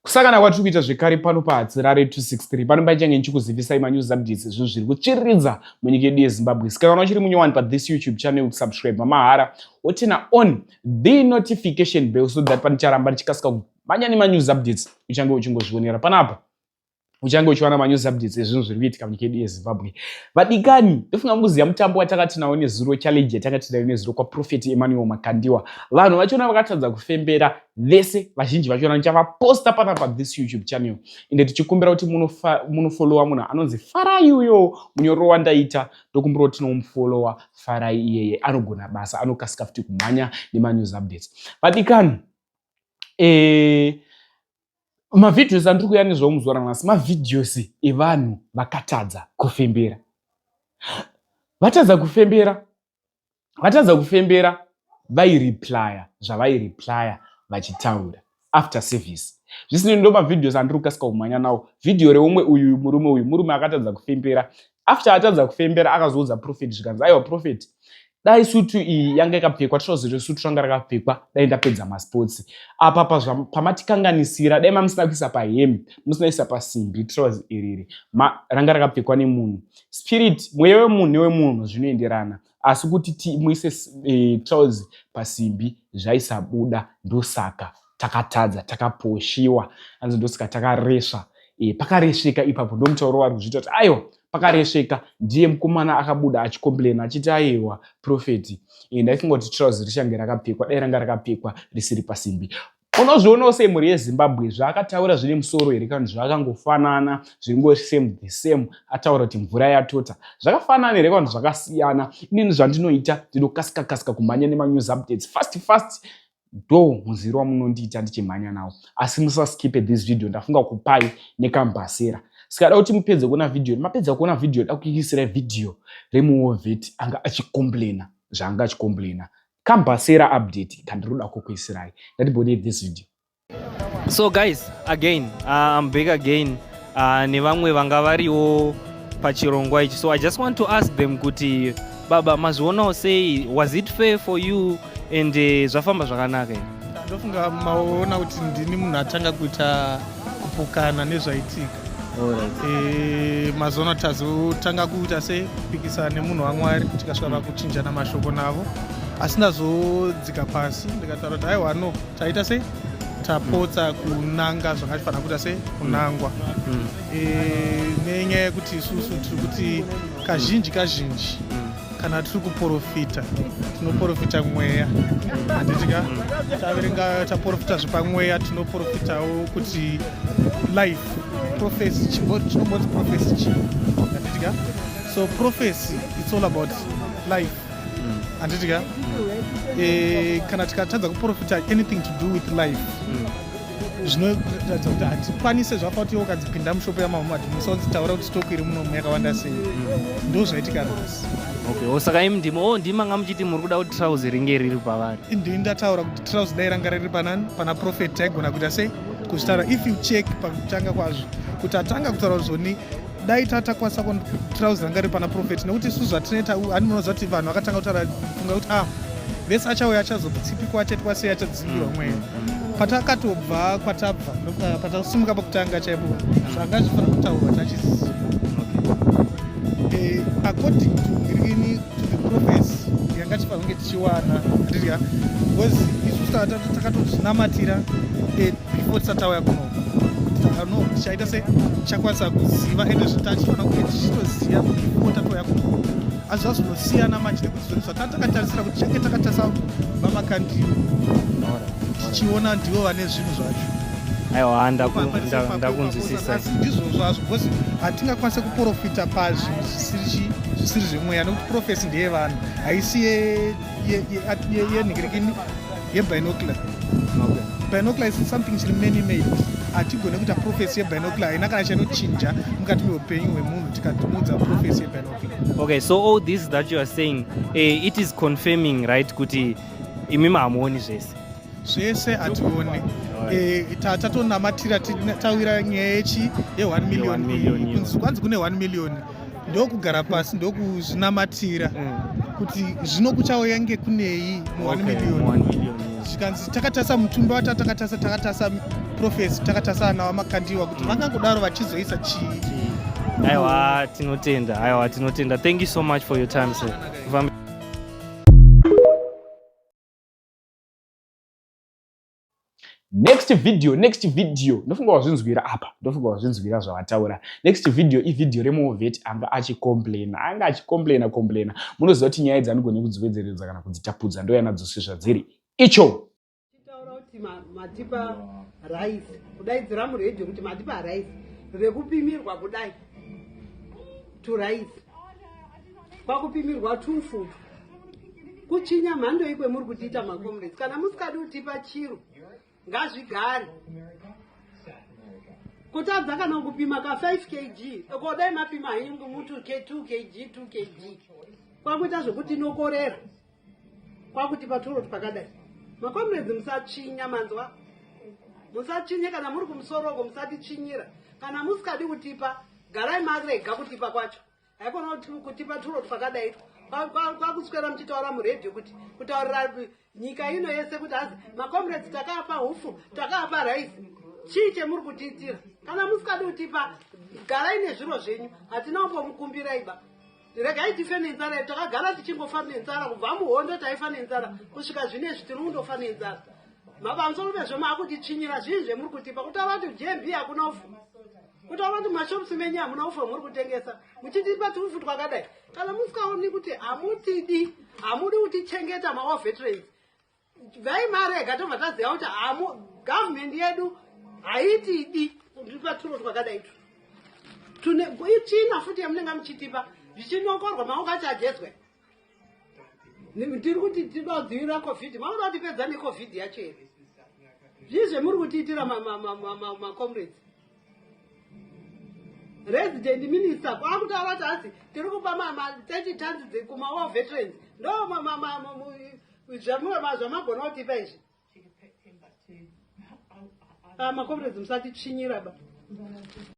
kusakana kwatiri kuita zvekare pano pahatsirare 263 pano paichange ndichikuzivisai manews updates ezvinhu zviri kutsviriridza munyika yedu yezimbabwe sika kana uchiri munyowani pathis youtube channel kusubscribe mamahara wotina on the notification bell so that panicharamba ndichikasika kumhanya nemanews updates uchange uchingozvionera panapa uchange uchiwana manews updates ezvinhu zviri kuitika munyika yedu yezimbabwe vadikani ndofunga mukuziva mutambo watanga tinawo nezuro challenge yatanga tinayo nezuro kwaprofet emmanuel makandiwa vanhu vachona vakatadza kufembera vese vazhinji vachona ndichavaposta pana pa this youtube channel ende tichikumbira kuti munofollowa munhu anonzi farai uyo munyoro wandaita ndokumbira kuti tinomufollowa farai iyeye anogona basa anokasika futi kumhanya nemanews updates vadikani eh, mavideos andiri kuya nezvawo muzuva ranhasi mavideos evanhu vakatadza kufembera vatadza kufembera vatadza kufembera vaireplya zvavaireplya vachitaura after service zvisinei ndo mavideos andiri kukasika kumhanya nawo vhidhiyo reumwe uyu murume uyu murume akatadza kufembera after atadza kufembera akazoudza profet zvikanzi aiwa profet dai sutu iyi yanga ikapfekwa trozi resutu ranga rakapfekwa dai ndapedza masports apa pamatikanganisira dai mamusina kuisa pahembe musina isa pasimbi trozi iriri ranga rakapfekwa nemunhu spirit mweya wemunhu newemunhu zvinoenderana asi kuti timuise e, trozi pasimbi zvaisabuda ndosaka takatadza takaposhiwa hanzi ndosika takaresva e, pakaresveka ipapo ndomutauro wari kuzviita kuti aiwa pakaresveka ndiye mukomana akabuda achikomplaina achiti aiwa profeti e, ndaifunga kuti trouse richange rakapfekwa dai ranga rakapfekwa risiri pasimbi unozvionawo semhuri yezimbabwe zvaakataura zvine musoro here kana zvaakangofanana zviringo same the same ataura kuti mvura yatota zvakafanana here kana zvakasiyana inini zvandinoita ndinokasika kasika kumhanya nemanews updates fast fast do muziviro wamunondiita ndichimhanya nawo asi musaskipe this video ndafunga kupai nekambhasera sikada kuti mupedze kuona video mapedza kuona video da kuisira video remuwovet anga achicomplaina zvaanga achicomplaina kambhasera update kandiroda kukuisirai ndatibonei this video so guys again uh, i'm back again uh, nevamwe vanga variwo pachirongwa ichi so i just want to ask them kuti baba mazvionawo sei was it fair for you and uh, zvafamba zvakanaka ndofunga maona kuti ndini munhu atanga kuita kupokana nezvaitika eh, mazono tazotanga kuita se kupikisana nemunhu wamwari tikasvara kuchinjana mashoko navo asi ndazodzika pasi ndikataura kuti aiwa no taita sei tapotsa kunanga zvakatifanira kuita sei kunangwa mm. e, nenyaya yekuti isusu tiri kuti kazhinji kazhinji mm. kana tiri kuprofita tinoprofita mweya handitika mm. taverenga taprofita zvepamweya tinoprofitawo kuti life profesi chimboti profesi chii handitika so profesi its all about life handiti ka eh, kana tikatadza kuprofita anything to do with life zvinoratidza kuti hatikwanise zvapa kuti iwo ukadzipinda mushopo yamahoma kuti musaodzitaura kuti stoku iri munomu yakawanda sei ndo zvaitika rose okay oh, saka imi ndimo o oh, ndima nga muchiti muri kuda kuti trouse ringe riri pavari ndini ndataura kuti trouse dai ranga riri panani pana profet taigona kuita sei kuzvitaura if you check pakutanga kwazvo kuti atanga kutaura zvoni dai tatakwasa ko trouse ranga riri pana profet nekuti isu zvatinoita ani munoziva kuti vanhu vakatanga kutaura funga kuti ah vese achauya achazotsipikwa achaitwa sei achadzivirwa mm, mweya mm, mm. patakatobva kwatabva eh, patakasimuka pakutanga chaipo zvanga zvifanira kutaurwa tachisiziva eh, according to ngirini to the profes yanga tifanira kunge tichiwana ndirya because isu takatozvinamatira eh, before tisatauya kuno no chaita se chakwanisa kuziva ende zvitachiona uye tichitoziva kuti ipota toya kuti asi zvazonosiyana manje nekuti zvinhu zvatanga takatarisira kuti change takatarisa vamakandiwo tichiona ndivo vane zvinhu zvacho aiwa ndakunzwisisa ndizvo zvazvo because hatingakwanise kuprofita pazvinhu zvisiri zvemweya nekuti profesi ndeyevanhu haisi yenhikirikini yebinocular binocular is something chiri many made hatigone kuita profesi yebinocular haina kana chanochinja mukati meupenyu hwemunhu tikatimuudza profesi yebinocular okay so all this that you are saying uh, it is confirming right kuti imi mahamuoni zvese zvese hatione eh, tatonamatira tawira nyaya yechi ye1 million kunzi kwanzi kune 1 million ndokugara pasi ndokuzvinamatira mm. kuti zvino kuchauya nge kunei muone miliyoni zvikanzi takatasa mutumbi wata takatasa takatasa profesi takatasa ana vamakandiwa kuti mm. vangangodaro vachizoisa chii mm. aiwa tinotenda aiwa tinotenda thank you so much for your time sir next video next video ndofunga wazvinzwira apa ndofunga wazvinzwira zvavataura next video ivideo removeti anga achicomplaina anga achicomplaina complaina munoziva kuti nyaya idzi anigone kudziwedzeredza kana kudzitapudza ndoyana dzose zvadziri icho matipa rice kudaidzira muredio kuti matipa rice rekupimirwa kudai to rice kwakupimirwa tufu kuchinya mhandoi kwemuri kutiita macomrades kana musikadi kutipa chiro ngazvigare kutadza kana kupima ka 5 kg kodai mapima henyu ngomuti ke 2 kg 2 kg kwakuita zvekuti inokorera kwakuti patoroti pakadai macomrades musatsvinya manzwa musatsvinye kana muri kumusoroko musatichinyira kana musikadi kutipa garai marega kutipa kwacho haikona kutipa turo twakadai kwakuswera muchitaura muredio kuti kutaurira nyika ino yese kuti hazi macomrades takaapa hufu takaapa raisi chii chemuri kutiitira kana musikadi kutipa garai nezviro zvenyu hatina umbomukumbiraiba regai tife nenzara yedu takagara tichingofa nenzara kubva muhondo taifa nenzara kusvika zvine izvi tiri kundofa nenzara mapamusoro pezvo maakutichinyira zvii zvemuri kutipa kutaura kuti jmb hakuna ufu kutaura kuti mashops menyu hamuna ufu hwamuri kutengesa muchitipa tuufu twakadai kana musikaoni kuti hamutidi hamudi kutichengeta mawa veterans vhai mari ega tobva taziva kuti hamu government yedu haitidi kutipa turo twakadai tu tune ichina futi yamunenge muchitipa zvichinokorwa maunga chajezwe tiri kuti tinodzivirira covid maona kuti pedza necovid yacho here zvii zvemuri kutiitira macomrades resident minister kwaakutaura vati hasi tiri kupa ma30 tons kumawa veterans ndo zvamagona kutipa izvi ah, macomrades musatitsvinyira ba